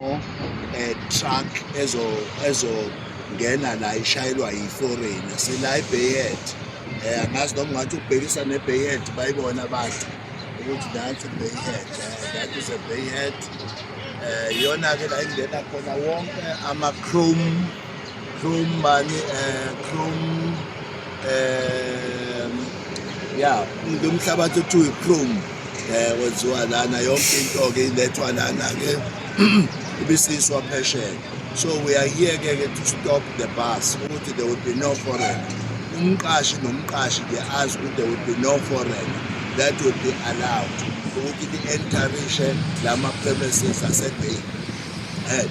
eh truck ezo ezo ngena la ishayelwa yi-foreign sila ibeyet um eh, angazi noma ngathi ukubhekisa nebeyet bayibona abantu ukuthi nansi ibeyet eh, that is a beyet um eh, iyona-ke la ingena khona wonke ama-chrome Chrome mani eh Chrome eh yeah lo mhlabathi othiwa Chrome eh wenziwa lana yonke into ke ilethwa lana ke ibisiswa phesheya so we are here ke to stop the bus ukuthi there will be no foreign umqashi nomqashi ke azi ukuthi there will be no foreign that will be allowed ukuthi i-entarishe la ma-premises asebeyi head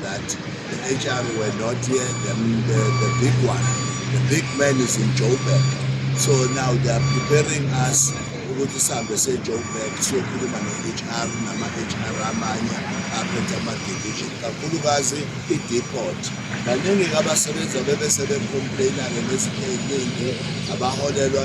that the HR were not here, the, the, the big one, the big man is in Joburg. So now they are preparing us ukuthi sihambe se-joburg siyokhuluma ne-hr nama-hr amanye aphethe ama-division kakhulukazi i-depot baningi-ke abasebenzi abebesebecomplaina-ke nezinto ey'ningi abaholelwa